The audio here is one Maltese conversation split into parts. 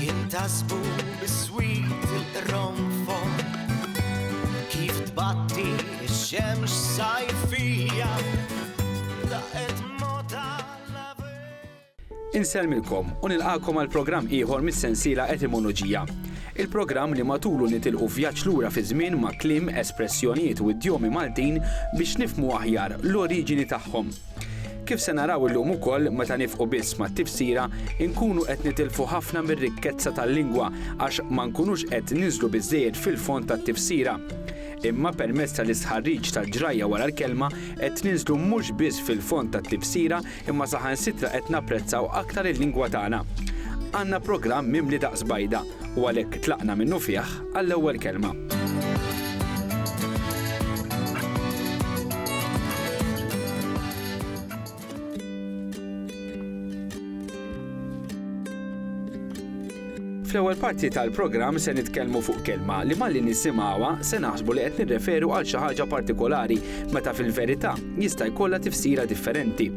Jintasbu biswit il-qronfon Kif tbatti x-xemx sajfija Daqet mota Insellmilkom u nilqakom għal programm ieħor mis-sensiela Etimoloġija. Il-programm li matulu nitilqu vjaġġ lura fiż-żmien ma' kliem, espressjonijiet u idjomi Maltin biex nifhmu aħjar l-oriġini tagħhom. Kif se naraw illum ukoll meta nifqu biss mat-tifsira, inkunu qed nitilfu ħafna mir-rikkezza tal-lingwa għax ma nkunux qed ninżlu biżżejjed fil-fond tat-tifsira. Imma permezz tal-istħarriġ tal-ġrajja wara l-kelma qed ninżlu mhux biss fil-fond tat-tifsira imma saħansitra qed napprezzaw aktar il-lingwa tagħna. Għandna programm mimli daqs bajda. u għalhekk tlaqna minnufih għall-ewwel kelma. Fl-ewwel parti tal-programm se nitkellmu fuq kelma li malli nisimgħuha se naħsbu li qed nirreferu għal xi ħaġa partikolari meta fil-verità jista' jkollha tifsira differenti.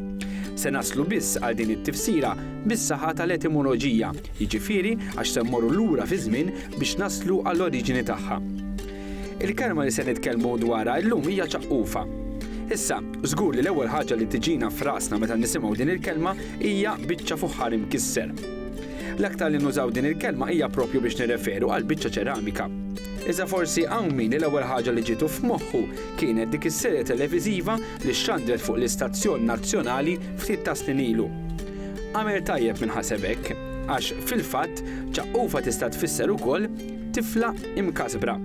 Se naslu biss għal din it-tifsira bis-saħħa tal-etimoloġija jiġifieri għax se mmorru lura fiż-żmien biex naslu għall-oriġini tagħha. Il-kelma li se nitkellmu dwarha llum hija ċaqqufa. Issa, żgur li l-ewwel ħaġa li tiġina f'rasna meta nisimgħu din il-kelma hija biċċa fuħħar imkisser. L-aktar li nużaw din il-kelma hija proprju biex nirreferu għal biċċa ċeramika. Iżda forsi hawn min l-ewwel ħaġa li ġietu f'moħħu kienet dik is-serje televiżiva li xxandret fuq l-istazzjon nazzjonali ftit ta' snin ilu. Għamel tajjeb min ħaseb hekk, għax fil-fatt ċaqqufa tista' tfisser ukoll tifla imkasbra.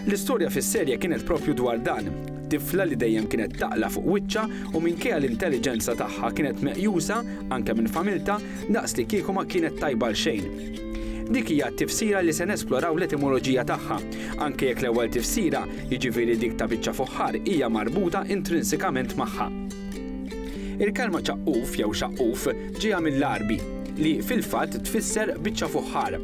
L-istorja fis-serje kienet propju dwar dan, tifla li dejjem kienet taqla' fuq wiċċha u minkejja l-intelliġenza tagħha kienet meqjusa, anke minn familtha, daqs li kieku ma kienet tajba għal xejn. Dik hija t-tifsira li se nesploraw l-etimoloġija tagħha, anke jekk l-ewwel tifsira, jiġifieri dik ta' biċċa fuħħar hija marbuta intrinsikament magħha. Il-kelma ċaqquf jew xaqquf ġejja mill-Għarbi, li fil-fatt tfisser biċċa fuħħar.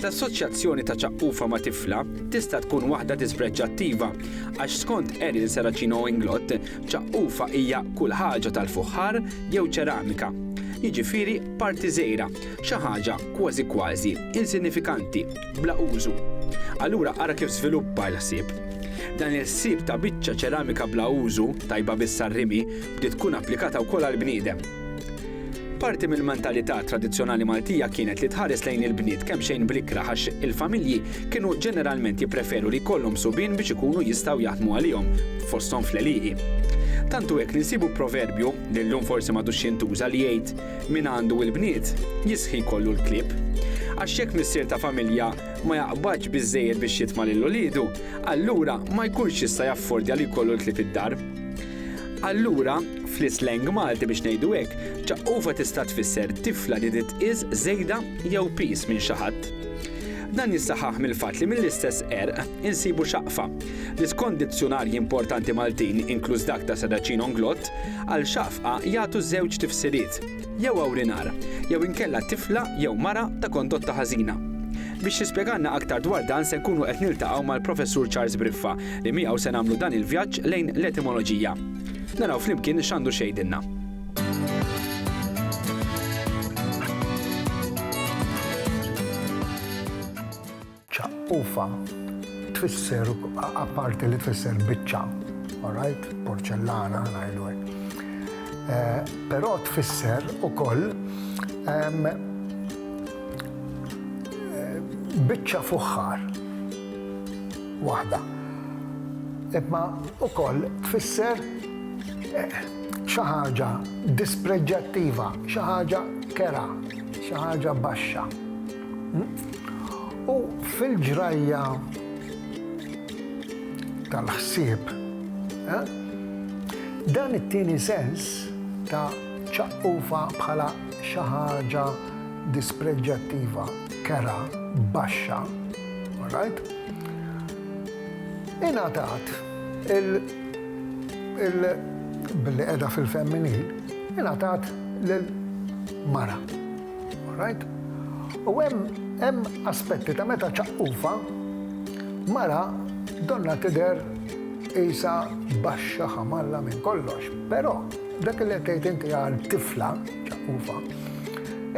L-assoċjazzjoni ta' ċaqqufha ma' tifla tista' tkun waħda dispreġġattiva, għax skont Eril Serracino Inglott, ċaqqufha hija kull ħaġa tal-fuħħar jew ċeramika, jiġifieri parti żgħira, xi ħaġa kważi kważi insinifikanti. bla użu. Allura ara kif żviluppa l-ħsieb. Dan il-ħsieb ta' biċċa ċeramika bla użu, tajba biss għar-rimi, bdiet tkun applikata wkoll għall-bniedem. Parti mill-mentalità tradizzjonali Maltija kienet li tħares lejn il-bniet kemxejn bl-ikrah għax il-familji kienu ġeneralment jippreferu li jkollhom subien biex ikunu jistgħu jaħdmu għalihom, fosthom fl-għelieqi. Tant hu hekk li nsibu proverbju, li llum forsi m'għadux jintuża, li jgħid, Min għandu il-bniet, jistħi jkollu l-klieb. Għax jekk missier ta' familja ma jaqbadx biżżejjed biex jitma' lil uliedu, allura ma jkunx jista' jaffordja li jkollu l-klieb id-dar. Allura, fl-isleng Malti biex ngħidu hekk, ċaqqofa tista' tfisser tifla li titqies żejda jew piż minn xi ħadd. Dan jissaħħaħ mill-fatt li mill-istess qerq, insibu xaqfa, li skont dizzjunarji importanti Maltin inkluż dak ta' Sadacin Onglot, għal xaqfqa jagħtu żewġ tifsiriet, jew awrinar, jew inkella tifla jew mara ta' kondotta ħażina. Biex jispjegalna aktar dwar dan se nkunu qed niltaqgħu mal-Professur Charles Briffa li miegħu se nagħmlu dan il-vjaġġ lejn l-etimoloġija. Naraw flimkien x'għandu x'jgħidilna. Ċaqqufa tfisser, apparti li tfisser biċċa, all right, porċellana ngħidu hekk. Eh, però tfisser ukoll ehm, eh, biċċa fuħħar waħda. Imma ukoll tfisser eh, xi ħaġa dispreġġattiva, xi ħaġa kera, xi ħaġa baxxa. U fil-ġrajja tal-ħsieb, eh, dan it-tieni sens ta' ċaqqufa bħala xi ħaġa dispreġġattiva, kera, baxxa, right? Ingħatat il-billi qiegħda fil-femminil, ingħatat lil mara. All right? U hemm hemm aspetti ta' meta ċaqqufha mara donnha tidher qisha baxxa ħamalla minn kollox. Però dak li qed tgħid inti għal tifla ċaqqufa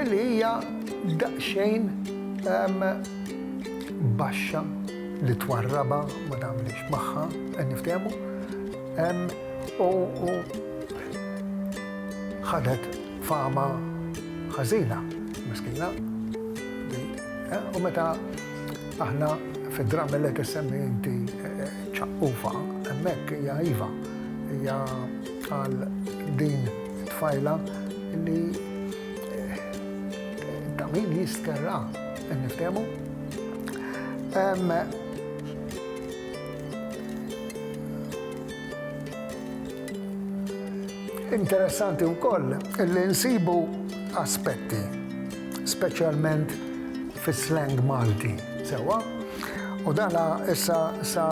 illi hija daqsxejn ehm, baxxa li twarraba ma tagħmilx magħha, qed niftehmu, ehm, u ħadet Fama ħażina, miskina. U meta aħna fid-dram li qed semmi inti ċaqqufa, hemmhekk hija iva, hija għal din tfajla li ta' min jistkerra, niftemu. Interessanti wkoll li nsibu aspetti, speċjalment fis-slang Malti, sewwa? U dan issa sa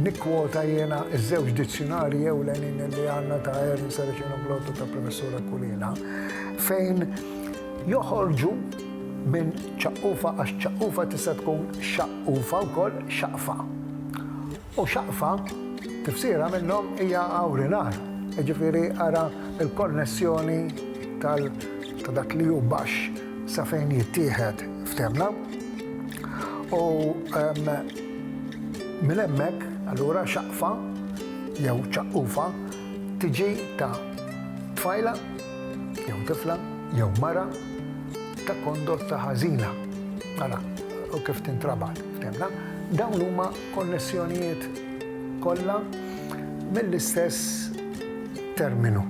nikkwota jiena ż-żewġ dizzjunarji ewlenin li għandna ta' Ernst Saracino Blott u ta' Professur Aquilina fejn joħorġu minn ċaqqufa għax ċaqqufa tista' tkun xaqqufa wkoll, xaqfa. U xaqfa, tifsira minnhom hija awrinar, jiġifieri ara l-konnessjoni tal ta' dak li hu baxx sa fejn jittieħed f'temna. U minn hemmhekk, allura xaqfa jew ċaqqufha tiġi ta' tfajla jew tifla jew mara ta' kondotta ħażina. Ara kif tintrabat f'temna. Dawn huma konnessjonijiet kollha mill-istess terminu.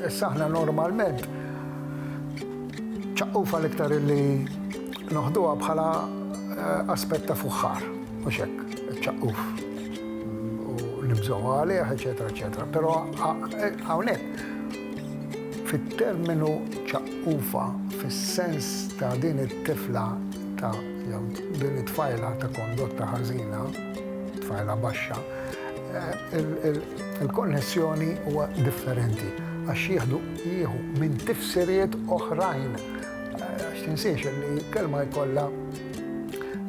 Issa aħna normalment ċaqqufa l-iktar illi noħduha bħala eh, aspett ta' fuħħar, mhux hekk, ċaqquf u nibżgħu għalih, eċetera, eċetera. Però eh, hawnhekk fit-terminu ċaqqufa fis-sens ta' din it-tifla ta' Din it-tfajla ta' kondotta ħażina, tfajla baxxa, il-konnessjoni huwa differenti għax jieħdu jieħu minn tifsiriet oħrajn. Għax tinsiex li kelma jkollha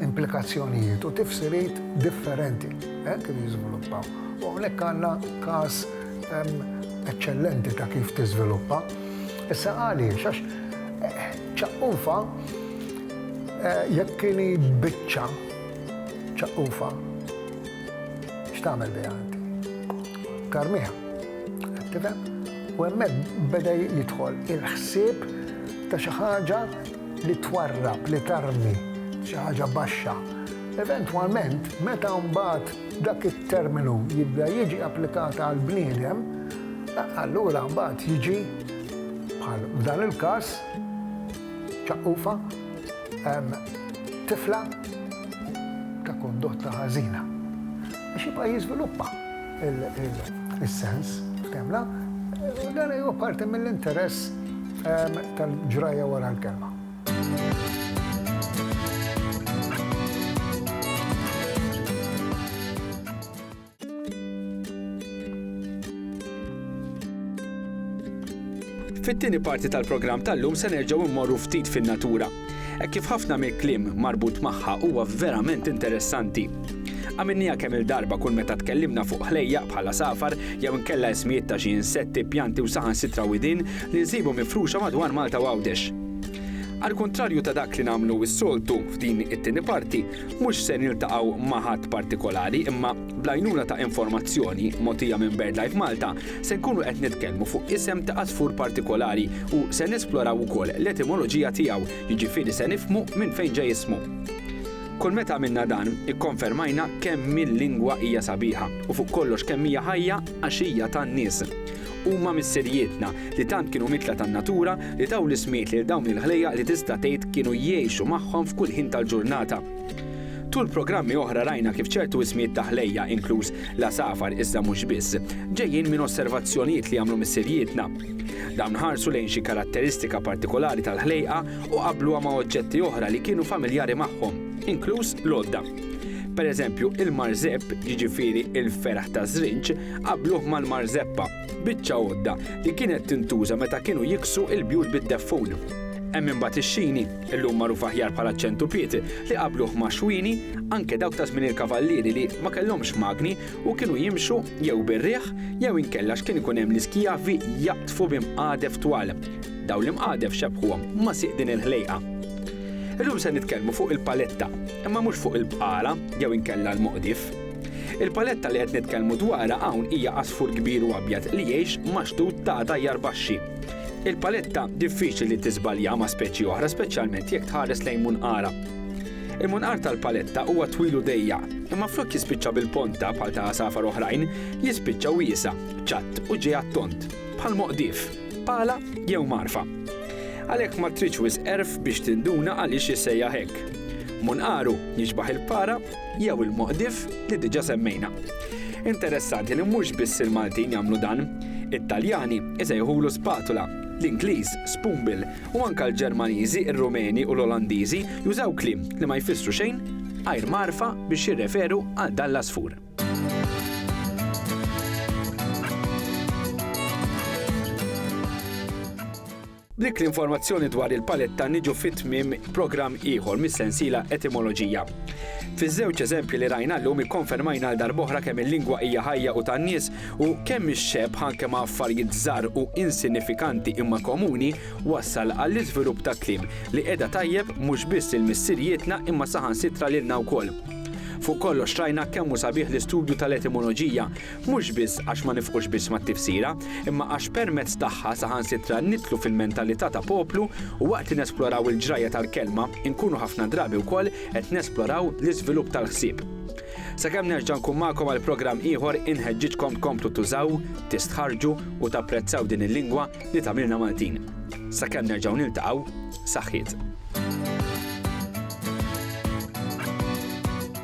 implikazzjonijiet u tifsiriet differenti kif jiżviluppaw. U hawnhekk għandna każ eċċellenti ta' kif tiżviluppa. Issa għaliex? Għax ċaqqufa Jekk inhi biċċa ċaqufa, x'tagħmel biha inti? Tarmiha. Qed tifhem? U hemmhekk beda jidħol il-ħsieb ta' xi ħaġa li twarrab, li tarmi, xi ħaġa baxxa. Eventwalment, meta mbagħad dak it-terminu jibda jiġi applikat għal bniedem, allura mbagħad jiġi bħal f'dan il-każ ċaqufa, tifla ta' kondotta ħażina. Biex jibqa' jiżviluppa il-sens, ftemna, dan huwa parti mill-interess tal-ġrajja wara l-kelma. Fit-tieni parti tal-programm tal-lum se nerġgħu mmorru ftit fin-natura. Hekk kif ħafna mill-kliem marbut magħha huwa verament interessanti. Għamilniha kemm il-darba kull meta tkellimna fuq ħlejja bħala safar jew inkella ismijiet ta' xi insetti, pjanti u saħansitra widin li nsibu mifruxa madwar Malta u Għawdex. Għall-kuntrarju ta' dak li nagħmlu s-soltu f'din it-tieni parti, Mhux se niltaqgħu ma' ħadd partikolari imma bl-għajnuna ta' informazzjoni mogħtija minn BirdLife Malta se nkunu qed nitkellmu fuq isem ta' għasfur partikolari u se nesploraw ukoll l-etimoloġija tiegħu, jiġifieri se nifhmu minn fejn ġej ismu. Kull meta għamilna dan, ikkonfermajna kemm il-lingwa hija sabiħa u fuq kollox kemm hija ħajja għax hija tan-nies. Huma missirijietna, li tant kienu mitla tan-natura, li taw l-ismijiet lil dawn il-ħlejjaq li tista' tgħid kienu jgħixu magħhom f'kull ħin tal-ġurnata. Tul programmi oħra rajna kif ċertu ismijiet ta' ħlejjaq, inkluż l-għasafar iżda mhux biss, ġejjin minn osservazzjonijiet li għamlu missirijietna. Dawn ħarsu lejn xi karatteristika partikolari tal-ħlejqa u qabbluha ma' oġġetti oħra li kienu familjari magħhom, inkluż l-għodda. Pereżempju, il-marżepp, jiġifieri l-ferħ taż-żrinġ, Qabbluh mal-marzeppa, biċċa għodda li kienet tintuża meta kienu jiksu l-bjut bid-deffun. Hemm imbagħad ix-xini, illum magħruf aħjar bħala ċ-ċentupied, li qabbluh ma' xwini, anke dawk ta' żmien il-kavallieri li ma kellhomx magni u kienu jimxu jew bir-riħ jew inkella x'kien ikun hemm l-iskjavi jaqdfu bi mqadef twal. Dawn l-imqadef xebbħuhom ma' sieq din il-ħlejqa. Illum se nitkellmu fuq il-paletta, imma mhux fuq il-bqala jew inkella l-moqdif. Il-paletta li qed nitkellmu dwarha hawn hija għasfur kbir u abjad li jgħix ma' xtut ta' tajjar baxxi. Il-paletta diffiċli li tiżbalja ma' speċi oħra speċjalment jekk tħares lejn munqarha. Il-munqar tal-paletta huwa twil u dejjaq, imma flok jispiċċa bil-ponta bħal ta' għasafar oħrajn, jispiċċa wiesa', ċatt u ġej għat-tond, bħal moqdif, pala jew magħrfa. Għalhekk ma tridx wisq għerf biex tinduna għaliex jissejjaħ hekk. Munqaru jixbaħ il-para jew il-Moqdif li diġà semmejna. Interessanti li mhux biss il-Maltin jagħmlu dan. It-Taljani isejħulu spatula, l-Ingliż spoonbill u anke l-Ġermaniżi, ir-Rumeni u l-Olandiżi jużaw kliem li ma jfissru xejn għajr magħrfa biex jirreferu għal dan l-għasfur. B'dik l-informazzjoni dwar il-paletta niġu fi tmiem programm ieħor mis-sensiela Etimoloġija. Fiż-żewġ eżempji li rajna llum ikkonfermajna għal darb'oħra kemm il-lingwa hija ħajja u tan-nies u kemm ix-xebħ anke ma' affarijiet żgħar u insinifikanti imma komuni wassal għall-iżvilupp ta' kliem li qiegħda tajjeb mhux biss lil missirijietna imma saħansitra lilna wkoll. Fuq kollox rajna kemm hu sabiħ l-istudju tal-etimoloġija Mhux biss għax ma nifqux biss mat-tifsira, imma għax permezz tagħha saħansitra nidħlu fil-mentalità ta' poplu u waqt li nesploraw il-ġrajja tal-kelma, inkunu ħafna drabi wkoll qed nesploraw l-iżvilupp tal-ħsieb. Sakemm nerġa' nkun magħkom għal programm ieħor inħeġġiġkom tkomplu tużaw, tistħarrġu u tapprezzaw din il-lingwa li tagħmilna Maltin. Sakemm nerġgħu niltaqgħu, saħħiet.